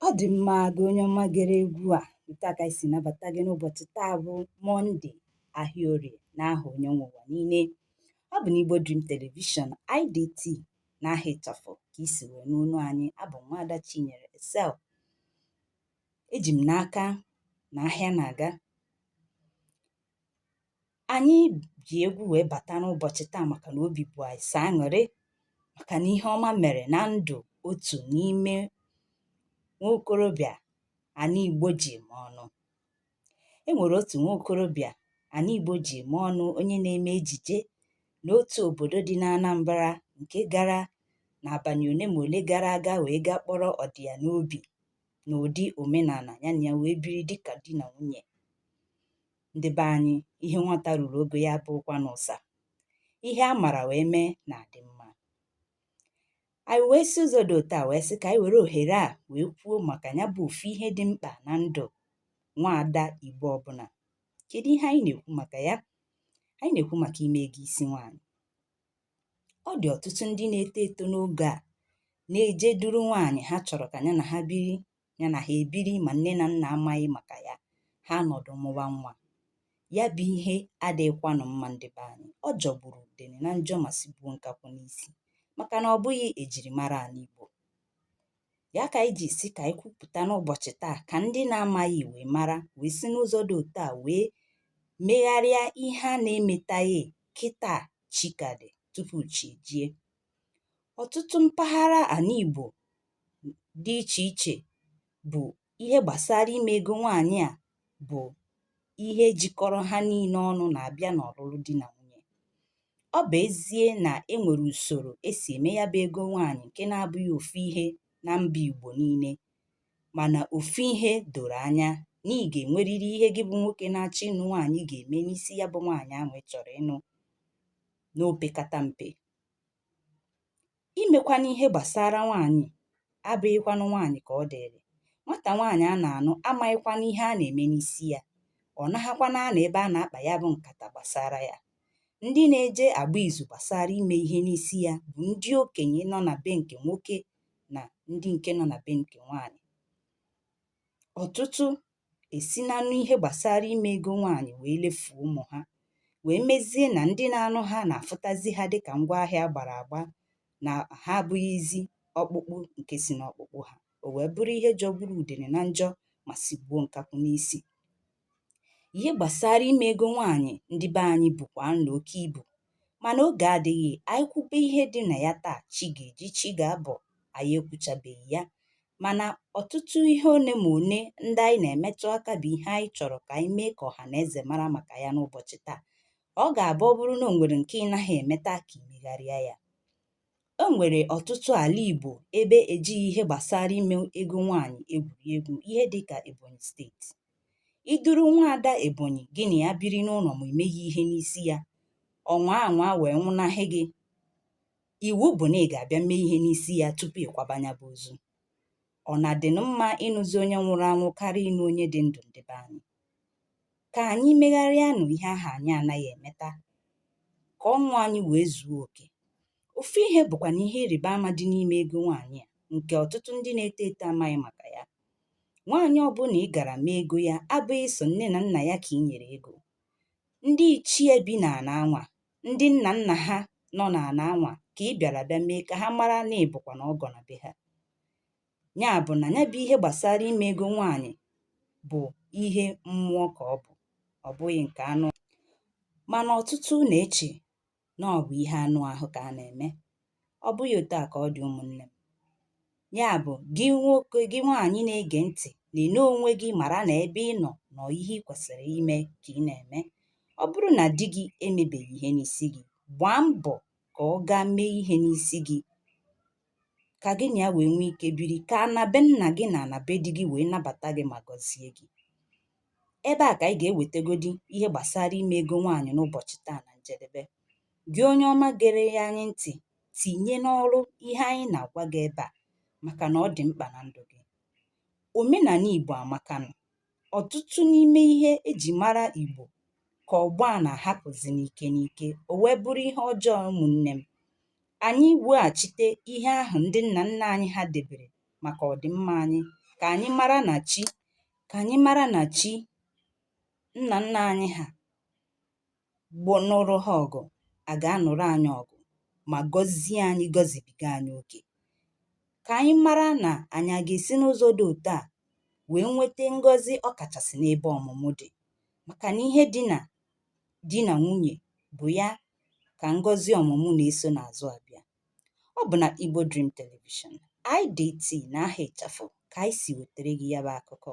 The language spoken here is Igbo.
Ọ dị mma gị onye ọma gere egwu a otu a ka anyị si nabata gị n'ụbọchị taa bụ Mọnde ahịa orie n'aha onye nwe ụwa niile ọ bụ n'Igbo Dream Television IDT n'aha ịchafụ ka i si wee nụ onu anyị abụ m nwaada Chinyere Excel eji m n'aka na ahịa na-aga anyị ji egwu wee bata n'ụbọchị taa maka na obi bụ anyị sọ aṅụrị maka na ihe ọma mere na ndụ otu n'ime nwa okorobịa ana igbo ji eme ọnụ e nwere otu nwa okorobịa ana igbo ji eme ọnụ onye na-eme ejije n'otu obodo dị n'anambra nke gara n'abalị ole ma ole gara aga wee gaa kpọrọ ọdị ya n'obi n'ụdị omenala ya na ya wee biri dị ka di na nwunye ndị be anyị ihe nwata ruru ogo ya abụghịkwanụ ụsa ihe a mara wee mee na-adị mma anyị wee si ụzọ dị otu a wee sị ka anyị were ohere a wee kwuo maka ya bụ ofu ihe dị mkpa na ndụ nwaada igbo ọbụla kedu ihe anyị na-ekwu maka ya anyị na-ekwu maka ime ego isi nwaanyị ọ dị ọtụtụ ndị na-eto eto n'oge a na-eje duru nwaanyị ha chọrọ ka ya na ha biri ya na ha ebiri ma nne na nna amaghị maka ya ha nọdụ mụwa nwa ya bụ ihe adịghịkwanụ mma ndị be anyị ọ jọgburu udene na njọ ma sigbuo nkakwụ n'isi maka na ọ bụghị ejirimara ala Igbo ya ka anyị ji sị ka anyị kwupụta n'ụbọchị taa ka ndị na-amaghị wee mara wee si n'ụzọ dị otu a wee megharịa ihe a na-emetaghị kịta chi ka dị tupu chi jie ọtụtụ mpaghara ala Igbo dị iche iche bụ ihe gbasara ime ego nwaanyị a bụ ihe jikọrọ ha niile ọnụ na-abịa n'ọlụlụ di na nwunye ọ bụ ezie na e nwere usoro e si eme ya bụ ego nwaanyị nke na-abụghị ofu ihe na mba Igbo niile Mana ofu ihe doro anya na ị ga-enwerịrị ihe gị bụ nwoke na-achọ ịnụ nwaanyị ga-eme n'isi ya bụ nwaanyị ahụ ị chọrọ ịnụ n'opekata mpe. Imekwanụ ihe gbasara nwaanyị abụghịkwanụ nwaanyị ka ọ dịịrị. Nwata nwaanyị a na-anụ amaghịkwanụ ihe a na-eme n'isi ya. Ọ naghakwanụ anọ ebe a na-akpa ya bụ nkata gbasara ya. Ndị na-eje agba izu gbasara ime ihe n'isi ya bụ ndị okenye nọ na be nke nwoke na ndị nke nọ na be nke nwaanyị ọtụtụ esina n'ihe gbasara ime ego nwaanyị wee lefuo ụmụ ha wee mezie na ndị na-anụ ha na-afụtazi ha dịka ngwa ahịa a gbara agba na ha abụghịzi ọkpụkpụ nke si n'ọkpụkpụ ha o wee bụrụ ihe jọgburu udene na njọ ma sigbuo nkakwụ n'isi ihe gbasara ime ego nwaanyị ndị be anyị bụkwa na oke ibu mana oge adịghị anyị kwube ihe dị na ya taa chi ga-eji chi ga-abọ anyị ekwuchabeghị ya mana ọtụtụ ihe one ma one ndị anyị na-emetụ aka bụ ihe anyị chọrọ ka anyị mee ka ọha na eze mara maka ya n'ụbọchị taa ọ ga-abụ ọ bụrụ na o nwere nke ị naghị emeta ka i megharịa ya E nwere ọtụtụ ala Igbo ebe ejighị ihe gbasara ime ego nwaanyị egwuri egwu ihe dị ka Ebonyi steeti. I duru nwaada Ebonyi gị na ya biri n'ụlọ ma emeghị ihe n'isi ya, ọ nwaa anwaa wee nwụnahị gị, iwu bụ na ị ga-abịa mee ihe n'isi ya tupu ị kwaba nya bụ ozu. Ọ na-adịnụ mma ịnụzi onye nwụrụ anwụ karịa ịnụ onye dị ndụ ndị be anyị. Ka anyị megharịanụ ihe ahụ anyị anaghị emeta, ka ọṅụ anyị wee zuo oke. Ofu ihe bụkwa na ihe ịrịba ama dị n'ime ego nwaanyị a nke ọtụtụ ndị na-eto eto amaghị maka ya. Nwaanyị ọbụla ị gara mee ego ya abụghị sọ nne na nna ya ka i nyere ego. Ndị ichie bi n'ana anwa, ndị nna nna ha nọ n'ana anwa ka ị bịara bịa mee ka ha mara na ị bụkwa na ọgọ na be ha. ya bụ na ya bụ ihe gbasara ime ego nwaanyị bụ ihe mmụọ ka ọ bụ ọ bụghị nke anụ mana ọtụtụ na-eche na ọ bụ ihe anụ ahụ ka a na-eme ọ bụghị otu a ka ọ dị ụmụnne m ya bụ gị nwoke gị nwaanyị na-ege ntị na-ene onwe gị mara na ebe ị nọ na ọ ihe ị kwesịrị ime ka ị na-eme ọ bụrụ na di gị emebeghị ihe n'isi gị gbaa mbọ ka ọ gaa mee ihe n'isi gị ka gị na ya wee nwee ike biri ka ana be nna gị na ana be di gị wee nabata gị ma gọzie gị ebe a ka anyị ga-ewetegodi ihe gbasara ime ego nwaanyị n'ụbọchị taa na njedebe gị onye ọma gere ya anyị ntị tinye n'ọrụ ihe anyị na-agwa gị ebe a maka na ọ dị mkpa na ndụ gị omenala igbo amakanụ ọtụtụ n'ime ihe e ji mara Igbo ka ọgbọ a na-ahapụzi n'ike n'ike, o wee bụrụ ihe ọjọọ ụmụnne m. Anyị weghachite ihe ahụ ndị nna nna anyị ha debere maka ọdịmma anyị, ka anyị mara na chi ka anyị mara na chi nna nna anyị ha bụ nụrụ ha ọgụ a ga-anụrụ anyị ọgụ ma gọzie anyị gọzibiga anyị oke ka anyị mara na anyị a ga-esi n'ụzọ dị otu a wee nweta ngọzi ọ kachasị n'ebe ọmụmụ dị maka na ihe dị na di na nwunye bụ ya ka ngọzi ọmụmụ na-eso n'azụ abịa ọ bụ na Igbo Dream Television IDT na aha ịchafụ ka anyị si wetara gị ya bụ akụkọ